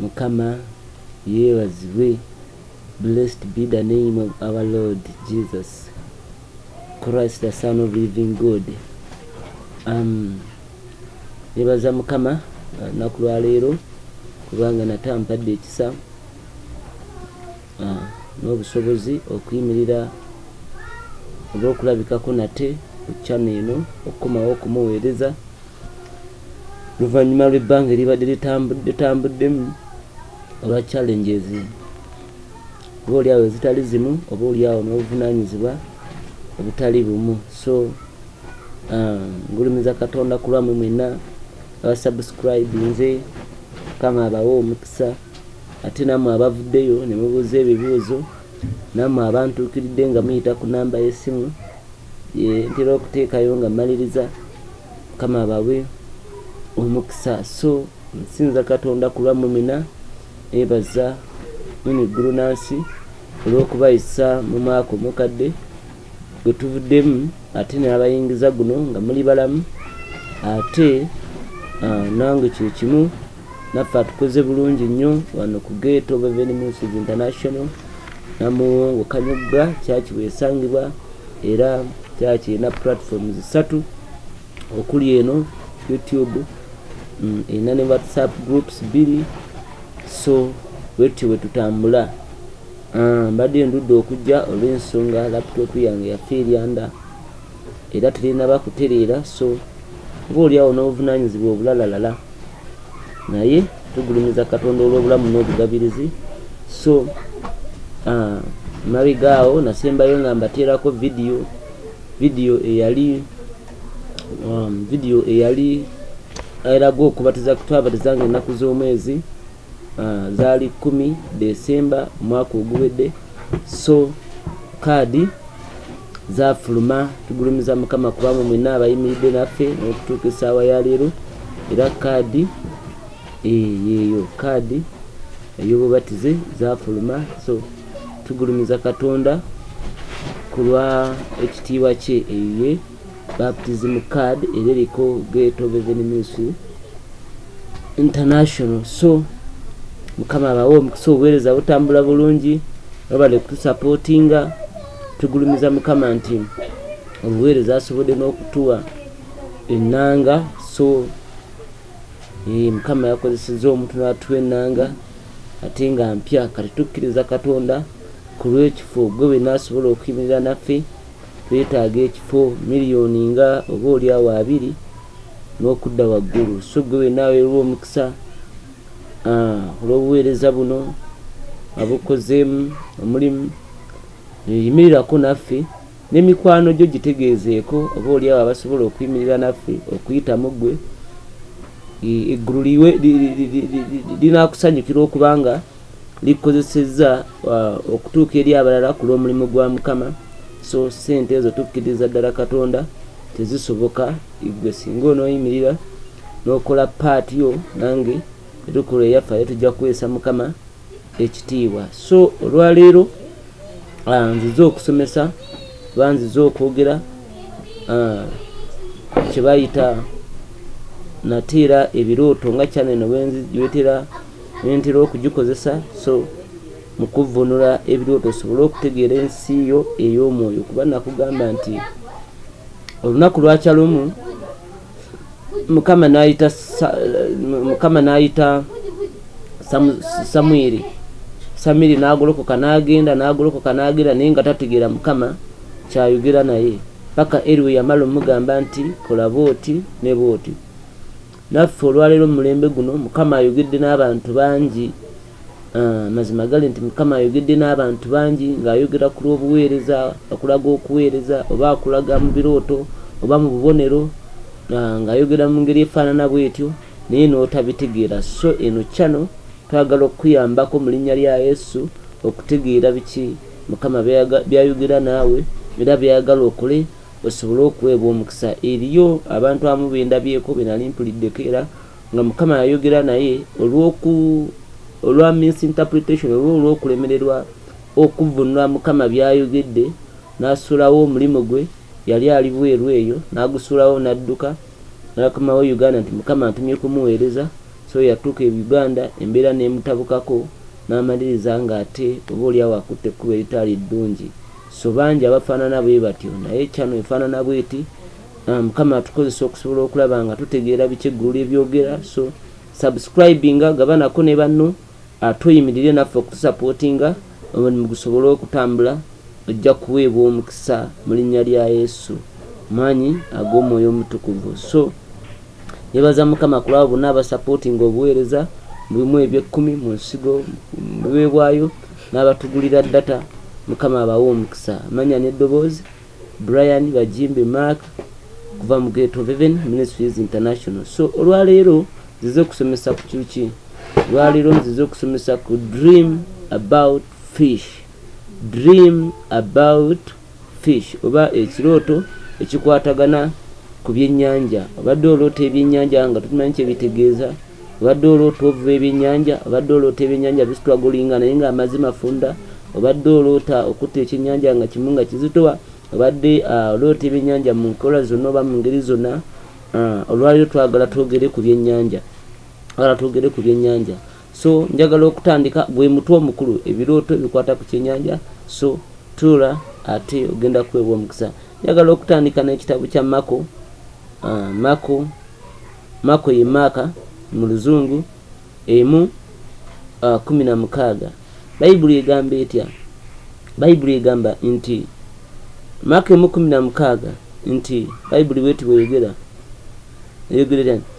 Mukama yebazibwe blessed be the name of our Lord Jesus Christ the son of living God um, nebaza Mukama uh, naku lwaleero kubanga natampadde ekisa n'obusobozi okuyimirira oba okulabikako nate ku channel eno okukomawo okumuweereza luvannyuma lw'ebbanga eribadde litambuddemu olwa challenges oba oliawo ezitali zimu oba oliawo n'obuvunanyizibwa obutali bumu so um, ngulumiza katonda ku lwamwe mwenna abasubscribe nze kama abawe omukisa Ate nammwe abavuddeyo ne mubuuza ebibuuzo, nammwe abantuukiridde nga muyita ku nnamba y'essimu gye ntera okuteekayo nga mmaliriza, Mukama abawe omukisa. So nsinza Katonda ku lwammwe mwena, neebaza Mwene Ggulu na Nsi olw'okubayisa mu mwaka omukadde gwe tuvuddemu ate n'abayingiza guno nga muli balamu ate nange kye kimu. naffe atukoze bulungi nnyo wano ku geeto beveni ministries international namuwongo kanyogga kyaki bwesangibwa era kyaki erina platform zisatu okuli eno youtube mm, erina ne whatsapp groups biri so wetyo bwetutambula ah, mbadde ndudde okujja olw'ensonga laptop yange yafa eryanda era terinaba kutereera so ng'olyawo n'obuvunaanyizibwa obulalalala naye tugulumiza katonda olw'obulamu n'obugabirizi so uh, mabega awo nasembayo nga mbateerako vidiyo vidiyo eyali um, vidiyo eyali eraga okubatiza kutwabatiza nga ennaku z'omwezi uh, zaali kumi desemba omwaka oguwedde so kaadi zafuluma tugulumiza mukama kubanga mwena abayimiridde naffe nokutuuka esaawa ya leero era kaadi eh, yeeyo kaadi eyobubatize zafuluma so tugulumiza katonda kulwa ekitiibwa kye eye baptism card era eriko gate of heaven ministry international so mukama abawe omukisa obuweereza butambula bulungi babale kutusapootinga tugulumiza mukama nti obuweereza asobodde n'okutuwa ennanga so eh, mukama yakozeseza omuntu natuwa ennanga ate nga mpya kati tukkiriza katonda ku lw'ekifo gwe bwenasobola okuyimirira naffe Twetaaga ekifo miriyoni nga oba oli awo abiri n'okudda waggulu. So ggwe wenna aweerwa omukisa olw'obuweereza buno abukozeemu omulimu, yimirirako naffe ne mikwano gyo gitegeezeeko oba oli awo abasobola okuyimirira naffe okuyitamu ggwe. Eggulu linaakusanyukira okubanga likozesezza uh, okutuuka eri abalala ku lw'omulimu gwa mukama so sente ezo tukkiriza ddala katonda tezisoboka igwe singa onooyimirira n'okola paati yo nange etukola eyaffe aye tujja kuweesa mukama ekitiibwa so olwaleero uh, nzize okusomesa oba nzize okwogera uh, kyebayita nateera ebirooto nga kyaneno wetera nentera okugikozesa so mu kuvvuunula ebirooto osobole okutegeera ensi yo ey'omwoyo kuba nakugamba nti olunaku lwakya lumu mukama n'ayita mukama n'ayita samwiri samiri n'agolokoka n'agenda n'agolokoka n'agenda naye nga tategeera mukama kyayogera naye paka eriwe yamala omugamba nti kola booti ne booti Naffe olwaleero mumulembe guno mukama ayogedde nabantu bangi amazima gali nti mukama ayogedde nabantu bangi nga ayogera kulwobuweereza akulaga okuweereza oba akulaga mubirooto oba mububonero nga ayogera mungeri efaanana bwetyo naye notabitegeera so eno channel twagala okukuyambako mulinnya lya yesu okutegeera biki mukama byayogera naawe era byayagala okole Osobole okuweebwa omukisa. Eriyo abantu abamu be ndabyeko be nali mpuliddeko era nga Mukama yayogera naye olw'oku, olwa misinterpretation oba olw'okulemererwa okuvvuunula Mukama by'ayogedde n'asuulawo omulimu gwe, yali ali bweru eyo, n'agusuulawo n'adduka n'akomawo e Uganda nti Mukama antumye kumuweereza, so yatuuka e Uganda embeera n'emutabukako n'amaliriza ng'ate oba olyawo akutte ekkubo eritaali ddungi. So bangi abafaanana bwe batyo. Naye channel efaanana bw'eti. Ah, Mukama atukozesa okusobola okulaba nga tutegeera biki eggulu lye byogera. So subscribinga, gabanako ne banno, ate oyimirire naffe okutusapootinga omulimu gusobole okutambula. Ojja kuweebwa omukisa mu linnya lya Yesu, maanyi ag'Omwoyo Omutukuvu. So nebaza Mukama kulaba bonna abasapootinga obuweereza mu bimu eby'ekkumi, mu nsigo, mu biweebwayo. N'abatugulira data mukama abawe omukisa amanya ne doboozi Brian Bajimbi Mark kuva mu gate of heaven ministries international so olwaleero nzize okusomesa ku kyuki olwaleero nzize okusomesa ku dream about fish dream about Fish oba ekirooto ekikwatagana ku byennyanja. Obadde oloota ebyennyanja nga tokimanyi kye bitegeeza. Obadde oloota ovuba ebyennyanja. Obadde oloota ebyennyanja bisitwagolinga naye ng'amazzi mafunda. Obadde oloota okutte ekyennyanja nga kimu nga kizitowa. Obadde ah, oloota ebyennyanja mu nkola zonna oba mu ngeri zonna. Ah, olwaleero twagala twogere ku byennyanja. Twagala twogere ku byennyanja. So njagala okutandika gwe mutwe omukulu ebirooto bikwata ku kyenyanja so tuula ate ogenda kuweebwa omukisa. Njagala okutandika n'ekitabo kya Mako. Uh, ah, Mako Mako ye maaka mu luzungu emu uh, kumi na mukaaga. Bayibuli egamba etya? Bayibuli egamba nti Mako emu kumi na mukaaga nti Bayibuli bweti bweyogera eyogera etya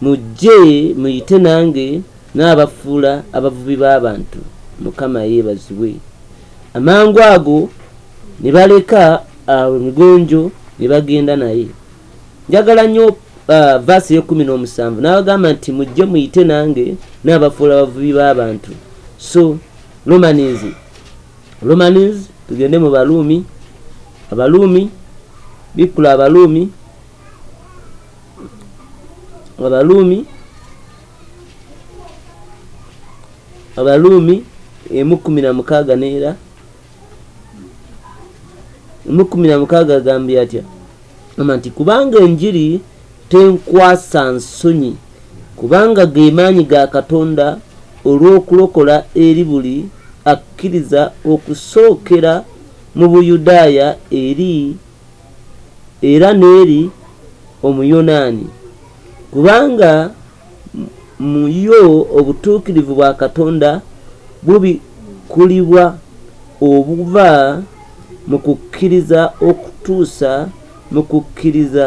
Mujje muyite nange n'abafuula abavubi b'abantu, Mukama yeebazibwe. Amangu ago ne baleka awo Migonjo ne bagenda naye. Njagala nnyo verse ey'ekkumi n'omusanvu n'abagamba nti mujje muyite nange n'abafuula abavubi b'abantu. So Romans, Romans tugende mu Baluumi, Abaluumi, bikkula Abaluumi. abaluumi abaluumi emu kumi na mukaaga neera emu kumi na mukaaga agambye atya ama nti kubanga enjiri tenkwasa nsonyi kubanga gemaanyi ga katonda olw'okulokola eri buli akkiriza okusookera mu buyudaaya eri era n'eri Omuyonaani, kubanga mu yo obutuukirivu bwa Katonda bubikkulibwa obuva mu kukkiriza okutuusa mu kukkiriza.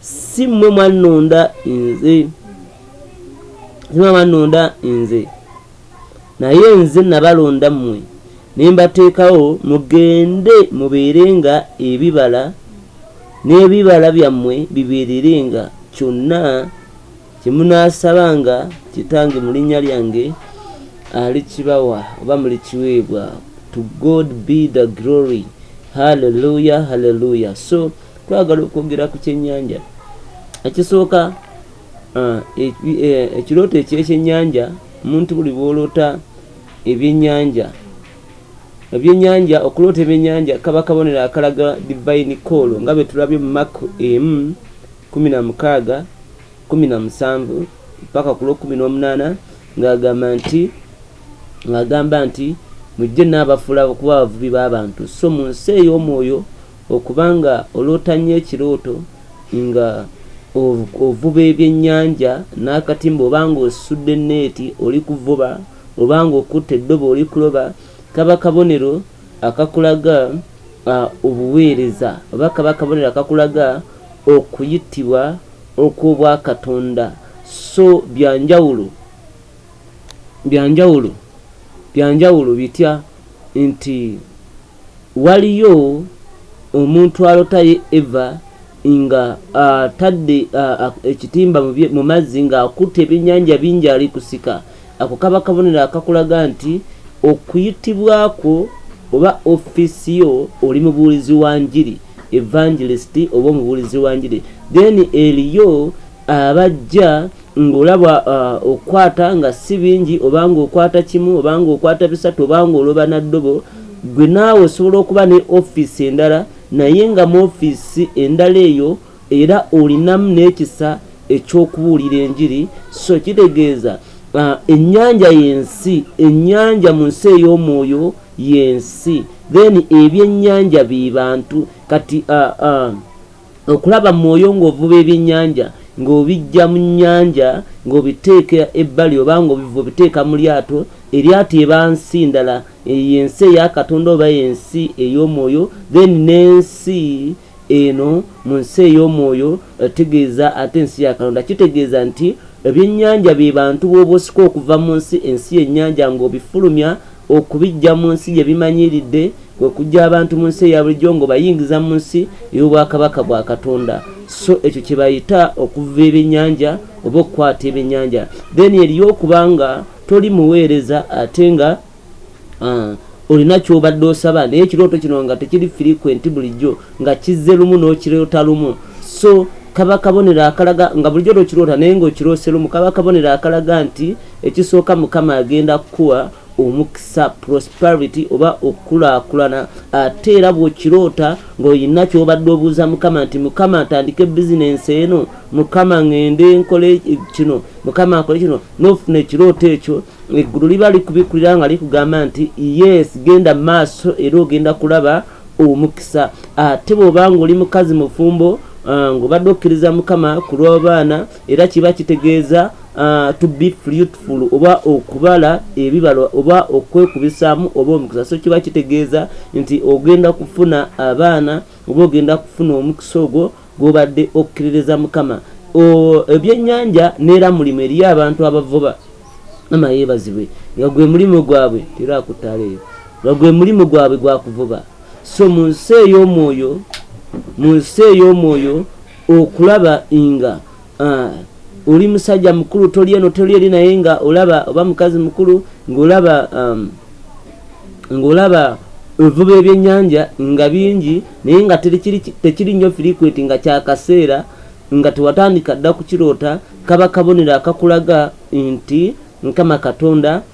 si mmwe mwannonda nze zima bannonda nze naye nze nabalonda mmwe ne mbateekawo mugende mubeere nga ebibala n'ebibala byammwe bibeerere nga kyonna kye munaasaba nga kitange mu linnya lyange alikibawa oba mulikiweebwa to god be the glory halleluya halleluya so twagala okwogera ku kyennyanja ekisooka uh, e, e, ekirooto ekyekyennyanja omuntu buli bwoloota ebyennyanja ebyennyanja okuloota ebyennyanja kaba kabonero akalaga divine call nga bwe tulabye mu maku emu kumi na mukaaga kumi na musanvu paka ku lwokumi n'omunaana ng'agamba nti ng'agamba nti mujje naabafuula okuba abavubi b'abantu so mu nsi ey'omwoyo Okuba nga oloota nnyo ekirooto nga ovuba ebyennyanja n'akatimba oba nga osudde nneeti oli kuvuba oba nga okutte eddobo oli kuloba kaba kabonero akakulaga obuweereza oba kaba kabonero akakulaga okuyitibwa okw'obwakatonda so byanjawulo byanjawulo byanjawulo bitya nti Waliyo omuntu alota ye Eva nga atadde ekitimba mu mazzi nga akutte ebyenyanja bingi ali kusika, ako kaba kabonero akakulaga nti okuyitibwa kwo oba office yo oli mubuulizi wa njiri, evangelist oba omubuulizi wa njiri. Then eliyo abajja ng'olaba uh, okukwata nga si bingi oba ng'okwata kimu oba ng'okwata bisatu oba ng'oloba na ddobo gwe naawe osobola okuba ne ofiisi endala naye nga mu ofiisi endala eyo era olinamu n'ekisa eky'okubuulira enjiri so kitegeeza uh, ennyanja y'ensi ennyanja mu nsi ey'omwoyo y'ensi then ebyennyanja be bantu kati uh, uh, Okulaba mwoyo ng'ovuba ebyennyanja ng'obiggya mu nnyanja ng'obiteeka ebbali oba ng'obivuba obiteeka mu lyato, eryato eba nsi ndala, eyo y'ensi eya Katonda oba ensi ey'omwoyo, then n'ensi eno mu nsi ey'omwoyo etegeeza ate ensi ya Katonda kitegeeza nti ebyennyanja be bantu b'oba osika okuva mu nsi, ensi y'ennyanja ng'obifulumya Okubiggya mu nsi gye bimanyiiridde kwe kuggya abantu mu nsi eya bulijjo ng'obayingiza mu nsi ey'obwakabaka bwa Katonda. So ekyo kye bayita okuvuba ebyennyanja oba okukwata ebyennyanja. Then eriyo okuba nga toli muweereza ate nga uh, olina kyobadde osaba naye ekirooto kino nga tekiri frequent bulijjo nga kizze lumu n'okiroota lumu so kaba kabonero akalaga nga bulijjo tokiroota naye ng'okiroose lumu kaba kabonero akalaga nti Ekisooka Mukama agenda kukuwa omukisa prosperity oba okukulaakulana ate era bw'okiroota ng'olina ky'obadde obuuza Mukama nti Mukama atandike bizinensi eno Mukama ng'ende nkole kino Mukama akole kino n'ofuna ekirooto ekyo eggulu liba likubikulira nga likugamba nti yes genda maaso era ogenda kulaba omukisa ate bw'oba ng'oli mukazi mufumbo uh, ng'obadde okkiriza Mukama ku lw'abaana era kiba kitegeeza uh, to be fruitful oba okubala ebibala oba okwekubisaamu oba omukisa so kiba kitegeeza nti ogenda kufuna abaana oba ogenda kufuna omukisa ogwo gwobadde okukkiririza mukama ebyennyanja neera mulimu eriyo abantu abavuba ama yeebazibwe nga gwe mulimu gwabwe tera akuttaala eyo nga gwe mulimu gwabwe gwakuvuba so mu nsi ey'omwoyo mu nsi ey'omwoyo okulaba nga uh, oli musajja mukulu toli eno toli eri naye nga olaba oba mukazi mukulu ngaolaba um, ngaolaba evuba ebyenyanja nga bingi naye nga tekiri nnyo firikweti nga kyakaseera nga tewatandika dda kukiroota kaba kabonero akakulaga nti mukama katonda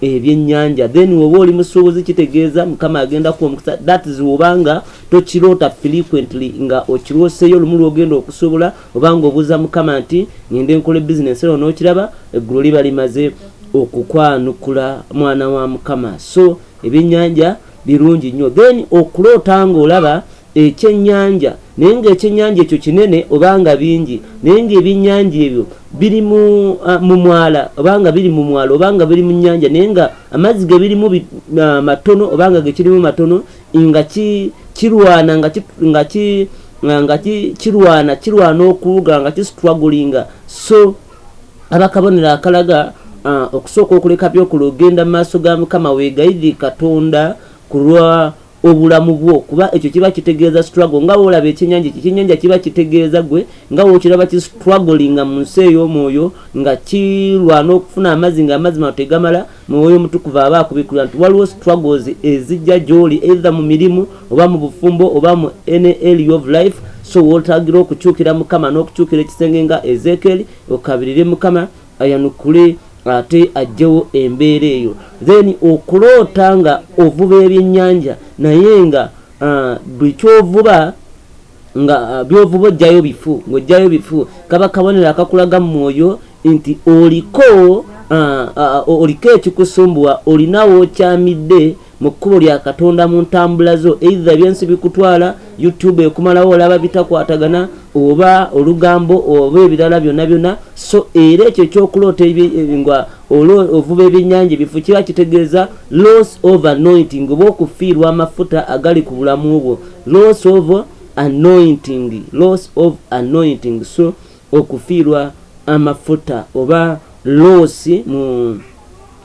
ebyenyanja then woba oli musuubuzi kitegeeza mukama agenda ku omukisa that is wobanga tokiroota frequently nga okirwoseyo olumu lwogenda okusuubula obanga obuuza mukama nti ngende nkola ebizinesi ero nokiraba eggulu liba limaze okukwanukula mwana wa mukama so ebyenyanja birungi nnyo then okuloota nga olaba ekyennyanja, naye ng'ekyennyanja ekyo kinene oba nga bingi, naye ng'ebyennyanja ebyo biri mu, uh, mu mwala oba nga biri mu mwala oba nga biri mu nnyanja naye nga amazzi ge birimu bi, uh, matono oba nga gekirimu matono nga ki, kirwana nga ki, nga ki, uh, nga ki, kirwana kirwana okuwuga nga kisitwagulinga so abakabonero akalaga uh, okusooka okuleka byokula ogenda mu maaso ga mukama weegayirire katonda ku lwa obulamu bwo kuba ekyo kiba kitegeeza struggle nga wolaba ekyenyanja ekyo ekyenyanja kiba kitegeeza gwe nga wokiraba ki struggling nga mu nsi ey'omwoyo nga kirwana okufuna amazzi nga amazzi mano tegamala mwoyo omutukuvu aba akubikulira nti waliwo struggles ezijja gyoli either mu mirimu oba mu bufumbo oba mu any area of life so wotagira okukyukira mukama n'okukyukira ekisenge nga ezekeeri okabirire mukama ayanukule ate ajjewo embeera eyo then okuloota nga ovuba ebyenyanja naye nga uh, buli kyovuba nga uh, byovuba ojjayo bifu ngaojjayo bifu kaba kabonero akakulaga mu mwoyo nti oliko uh, uh, oliko ekikusumbuwa olinawo okyamidde mu kkubo lya katonda mu ntambula zo eitha byensi bikutwala youtube ekumalawo olaba bitakwatagana oba olugambo oba ebirala byonna byonna so era ekyo ekyokuloota nga ovuba ebyenyanja ebifu kiba kitegeeza loss of anointing oba okufiirwa amafuta agali ku bulamu bwo loss of anointing loss of anointing so okufiirwa amafuta oba loosi mu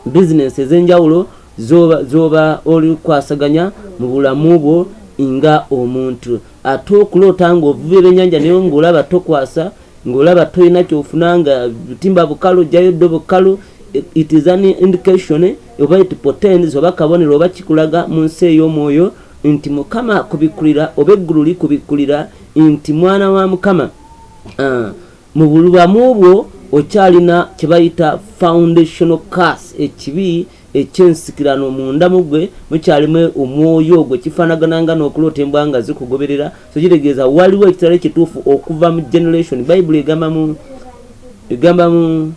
bizinensi ez'enjawulo Z'oba, z'oba oli kwasaganya mu bulamu bwo nga omuntu. Ate okuloota nga ovuba ebyenyanja naye nga olaba tokwasa, nga olaba tolina kyofuna nga butimba bukalu, ojjayo ddobo kkalu, it is an indication oba it portends oba kabonero oba kikulaga mu nsi ey'omwoyo nti Mukama akubikulira oba eggulu likubikulira nti mwana wa Mukama uh, Mu bulbamu bwo okyalina kye bayita foundational curse, ekibi eky'ensikirano. Munda mu gwe mukyalimu omwoyo ogwo. Kifaanagana nga n'okuloota embwa nga zikugoberera. So kitegeeza waliwo ekitalo ekituufu okuva mu generation. Bayibuli egamba mu, egamba mu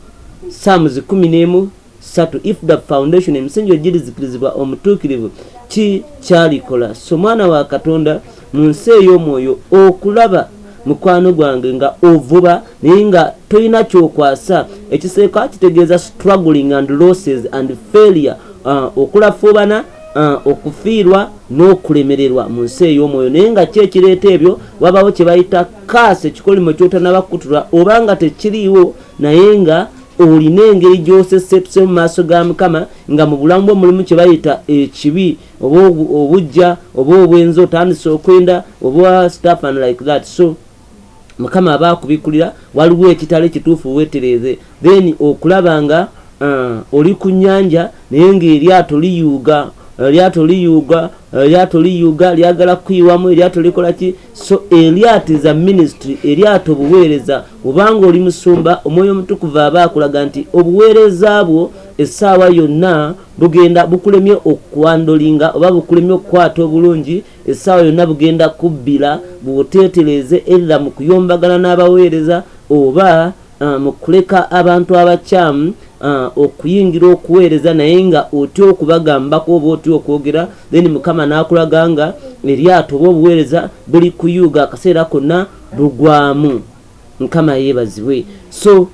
Psalms kkumi n'emu satu if the foundation emisingi ogirizikirizibwa omutuukirivu ki kyalikola so mwana wa katonda mu nsi ey'omwoyo okulaba mukwano gwange nga ovuba naye nga tolina kyokwasa ekiseeka kitegeeza struggling and losses and failure uh, okulafuubana uh, okufiirwa n'okulemererwa mu nsi ey'omwoyo naye nga ki ekireeta ebyo wabawo kye bayita kaasi ekikolimo kyotanabakutulwa oba nga tekiriiwo naye nga olina engeri gy'osesepse mu maaso ga mukama nga mu bulamu bwo mulimu kye bayita ekibi oba obujja oba obwenzi otandise okwenda oba staff and like that so mukama aba akubikulira waliwo ekitalo ekituufu wetereeze then okulaba nga uh, oli ku nyanja naye ng'eryato liyuuga eryato liyuuga eryato liyuuga lyagala kukuyiwamu eryato likola ki so eryato is a ministry eryato obuweereza obanga oli musumba omwoyo omutukuvu aba akulaga nti obuweereza bwo essaawa yonna bugenda bukulemye okwandolinga oba bukulemye okukwata obulungi essaawa yonna bugenda kubbira bwoteetereeze erra mu kuyombagana n'abaweereza oba uh, mu kuleka abantu abakyamu uh, okuyingira okuweereza naye nga otya okubagambako oba otya okwogera then mukama n'akulaga nga eryato oba obuweereza buli kuyuuga akaseera konna bugwamu mukama yeebazibwe so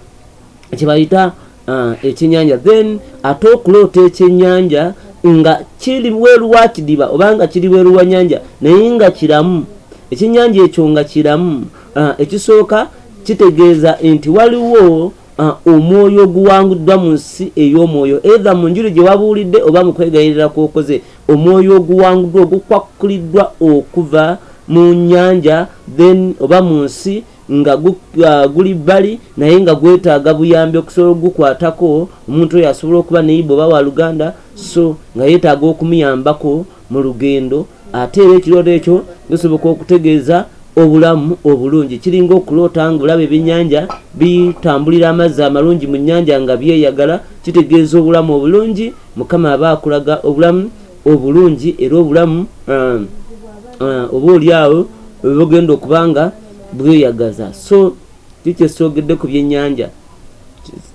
kyebayita uh, ekyenyanja then ate okuloota ekyenyanja nga kiri weeru wa kidiba obanga kiri weeru wa nyanja naye nga kiramu ekyenyanja ekyo nga kiramu uh, ekisooka kitegeeza nti waliwo Ah, omwoyo oguwanguddwa mu nsi ey'omwoyo edha mu njuli gye wabuulidde oba mu kwegayirira kwokoze omwoyo oguwanguddwa ogukwakkuliddwa okuva mu nyanja then oba mu nsi nga ah, guli bbali naye nga gwetaaga buyambi okusobola okugukwatako omuntu oyo asobola okuba neyiba oba wa luganda so nga yetaaga okumuyambako mu lugendo ate era ekirooto ekyo gisoboka okutegeeza obulamu obulungi kiringa okuloota nga olaba ebyennyanja bitambulira amazzi amalungi mu nnyanja nga byeyagala kitegeeza obulamu obulungi mukama aba akulaga obulamu obulungi era obulamu uh, uh, oba olyawo bugenda okuba nga bweyagaza so kikyesogedde ku byennyanja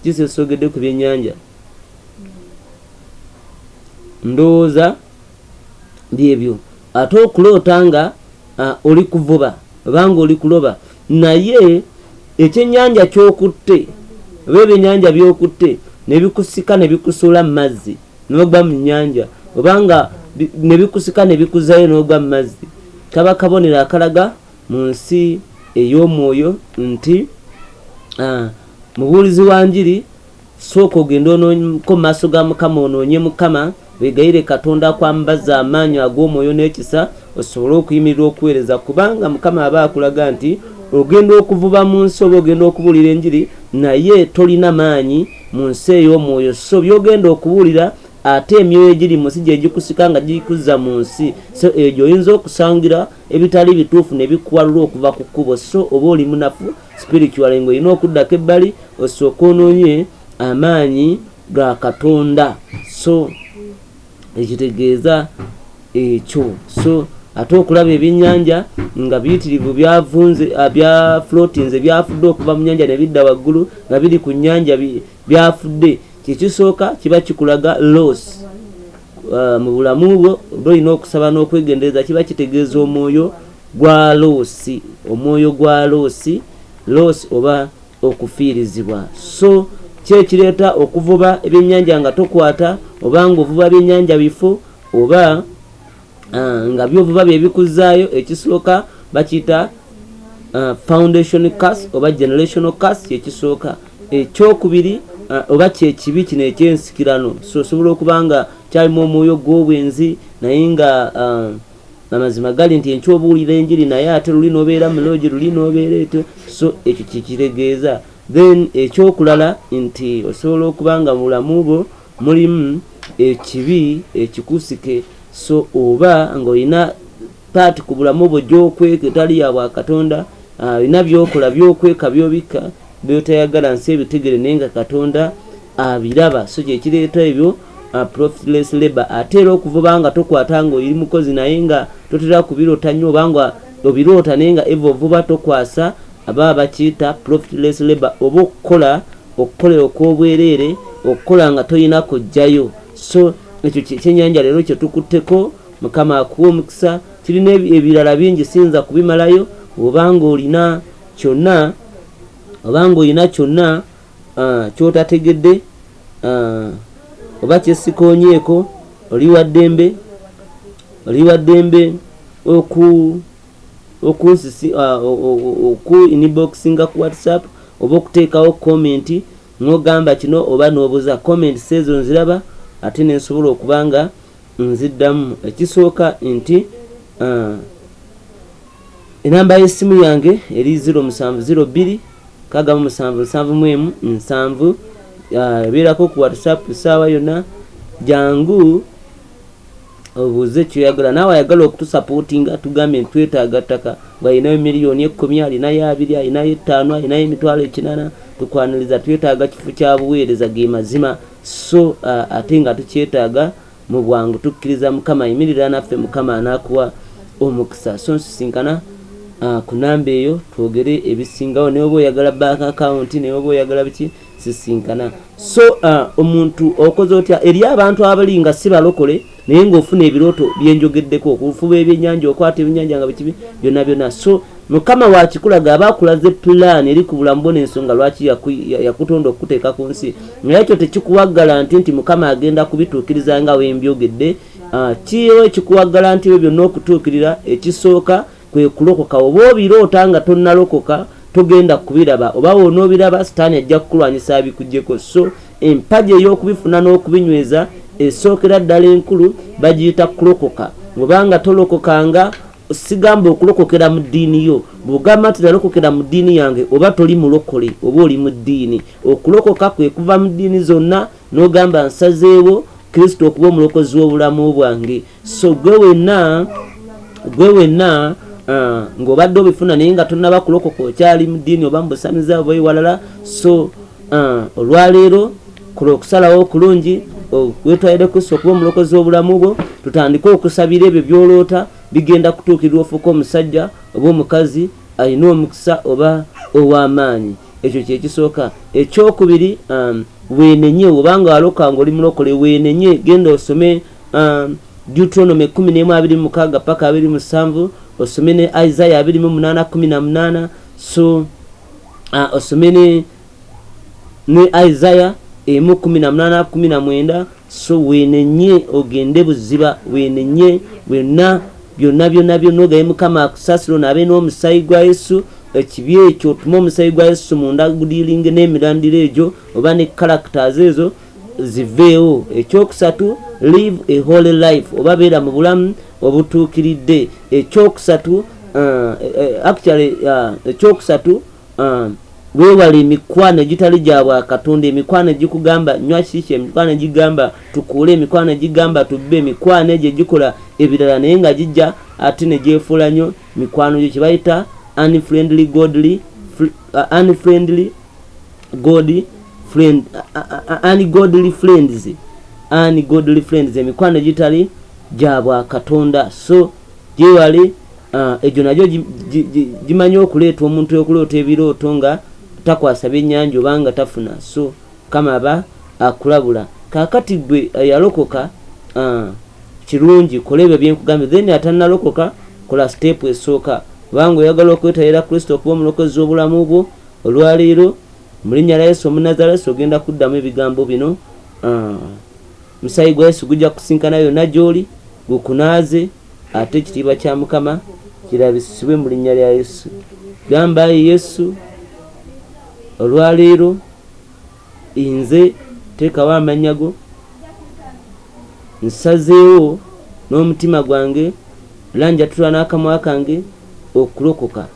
kikyesogedde ku byennyanja ndowooza byebyo ate okuloota nga uh, oli kuvuba obanga oli kuloba naye ekyenyanja kyokutte oba ebyenyanja byokutte nebikusika nebikusuula mu mazzi nogwa mu nyanja obanga nebikusika nebikuzayo nogwa mu mazzi kaba kabonero akalaga mu nsi ey'omwoyo nti uh, mubuulizi wa njiri Sooka ogende onoonyeko maaso ga Mukama onoonye Mukama, wegayirire Katonda akwambaze amaanyo ag'omwoyo n'ekisa osobole okuyimirira okuweereza kubanga Mukama aba akulaga nti ogenda okuvuba mu nsi oba ogenda okubuulira enjiri naye tolina maanyi mu nsi ey'omwoyo so byogenda okubuulira ate emyoyo egiri mu nsi gye gikusika nga gikuzza mu nsi so egyo oyinza okusangira ebitali bituufu ne bikuwalula okuva ku kkubo so oba oli munafu spiritually nga olina okuddako ebbali osooka onoonye amaanyi ga katonda so ekitegeeza ekyo so ate okulaba ebyenyanja nga biyitirivu byavunze ah, byaflotinze byafudde okuva mu nyanja nebidda waggulu nga biri ku nyanja byafudde kyekisooka kiba kikulaga loss Uh, mu bulamu bwo oba olina okusaba n'okwegendereza kiba kitegeeza omwoyo gwa loosi omwoyo gwa loosi loosi oba okufiirizibwa so kyekireeta okuvuba ebyennyanja nga tokwata oba ngaovuba byennyanja bifo oba uh, nga byovuba byebikuzaayo ekisooka bakiyita uh, foundation cas oba generational cas kyekisooka Ekyokubiri, oba kye kibi kino eky'ensikirano. So osobola okuba nga kyalimu omwoyo gw'obwenzi, naye nga amazima gali nti enkya obuulira enjiri, naye ate luli n'obeera mu loogi, luli n'obeera etyo. So ekyo kye kitegeeza. Then ekyokulala nti osobola okuba nga mu bulamu bwo mulimu ekibi ekikusike, so oba ng'olina part ku bulamu bwo gyokweka etali ya bwa katonda alina ah, byokola byokweka byobikka byotayagala nsi ebitegere naye nga katonda abiraba so kyekireeta ebyo ah, profitless labor ate era okuvuba nga tokwata nga oyiri mukozi naye nga totera kubirota nnyo obanga obiroota naye nga eva ovuba tokwasa aba bakiyita profitless labor oba okukola okukolera okwobwereere okukola nga toyina kujjayo so ekyo kyenyanja leero kyetukutteko Mukama akuwe omukisa tulina ebirala bingi siyinza kubimalayo obanga olina kyonna obanga olina kyonna uh, kyotategedde uh, oba kyesikonyeeko oli waddembe oli waddembe oku okunsisi uh, oku inboxinga ku whatsapp oba okuteekawo comment nogamba kino oba nobuza comment sezo nziraba ate nensobola okubanga nziddamu ekisooka nti uh, enamba y'essimu yange eri 0702 kagamba musanvu nsanvu mu emu nsanvu uh, ebeerako ku whatsapp saawa yonna jangu obuuze kyoyagala naawe ayagala okutusapootinga tugambye nti twetaaga ttaka ngaalinayo miliyoni ekkumi alinayo abiri alinayo ettaano alinayo emitwalo ekinana tukwaniriza twetaaga kifo kya buweereza ge mazima so ate nga tukyetaaga mubwangu tukkiriza mukama yimirira naffe mukama anakuwa omukisa so nsisinkana uh, ku namba eyo twogere ebisingawo naye oba oyagala bank account naye oba oyagala biki sisinkana so uh, omuntu okoze otya eri abantu abali nga si balokole naye ng'ofuna ebirooto byenjogeddeko okufuba ebyenyanja okwata ebyenyanja nga bekibi byonna byonna so mukama wakikulaga aba akulaze pulaani eri ku bulamu bona ensonga lwaki yakutonda okukuteeka ku nsi naye ekyo tekikuwaggala nti nti mukama agenda kubituukiriza nga wembyogedde ah, kiriwo ekikuwaggala nti ebyo byonna okutuukirira ekisooka Kwe kulokoka. Bw'oba obiroota nga tonnalokoka, togenda kubiraba, oba bw'onoobiraba, Sitaani ajja kukulwanyisa abikuggyeko. So, empagi ey'okubifuna n'okubinyweza esookera ddala enkulu, bagiyita kulokoka. Bw'oba nga tolokokanga, ssigamba okulokokera mu ddiini yo, bw'ogamba nti nalokokera mu ddiini yange, oba toli mulokole, oba oli mu ddiini. Okulokoka kwe kuva mu ddiini zonna n'ogamba, Nsazeewo Kristo okuba Omulokozi w'obulamu bwange. so gwe wenna gwe wenna uh, ng'obadde obifuna naye nga tonaba kulokoka okyali mu ddiini oba mu busamiza oba ewalala so uh, olwaleero kola okusalawo okulungi wetwalire kristo okuba omulokozi w'obulamu bwo tutandike okusabira ebyo byoloota bigenda kutuukirira ofuuka omusajja oba omukazi alina omukisa oba ow'amaanyi ekyo kyekisooka ekyokubiri um, wenenye obanga waloka nga oli mulokole wenenye genda osome um, deuteronomy 11:26 paka 27 osome ne isaiah 28:18 so uh, osome ne ne isaiah emu 18:19 so wenenye ogende buziba wenenye byonna byonna byonna byonna ogaye mukama akusasira onabe n'omusayi gwa yesu ekibi ekyo otuma omusayi gwa yesu munda gudilinge n'emirandira egyo oba ne characters ezo ziveewo ekyokusatu live a holy life oba beera mu bulamu obutuukiridde ekyokusatu uh, uh, actually uh, ekyokusatu weewale emikwano egitali gya bwakatonda emikwano egikugamba nywa kiki emikwano egigamba tukuule emikwano egigamba tubbe emikwano egyo egikola ebirala naye nga gijja ate ne gyefuula nnyo mikwano gyo kye bayita unfriendly godly unfriendly god friend ani godly friends ani godly friends emikwano egitali gyabwa katonda so gyewali ah, egyo nagyo gimanyi okuleeta omuntu okuloota ebirooto nga takwasa byenyanja obanga tafuna so kama aba akulabula kakati gwe eh, yalokoka ah, kirungi kola ebyo byenkugambye then atanalokoka kola siteepu esooka kubanga oyagala okwetayira kristo okuba omulokozi obulamu bwo Olwaleero, mu linnya lya Yesu Omunazalesi, ogenda kuddamu ebigambo bino, Omusaayi gwa Yesu gujja kusisinkana yonna gy'oli, gukunaaze, ate ekitiibwa kya Mukama kirabisibwe mu linnya lya Yesu. Gamba, Ayi Yesu, olwaleero nze teekawo amannya go, nsazeewo n'omutima gwange, era njatula n'akamwa kange okulokoka.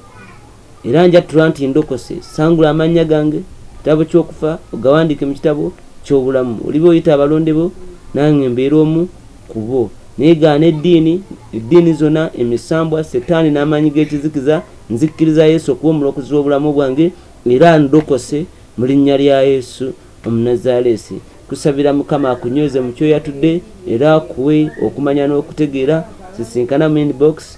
Era njattula nti ndokose, sangula amannya gange mu kitabo ky'okufa, ogawandiike mu kitabo ky'obulamu. Oliba oyita abalonde bo, nange mbeere omu ku bo. Naye gaana eddiini, eddiini zona, emisambwa, Setaani n'amaanyi g'ekizikiza. Nzikkiriza Yesu okuba Omulokozi w'obulamu bwange, era ndokose mu Linnya lya Yesu Omunazaleesi. Nkusabira Mukama akunyweze mu ky'oyatudde era akuwe okumanya n'okutegeera. Nsisinkana mu inbox.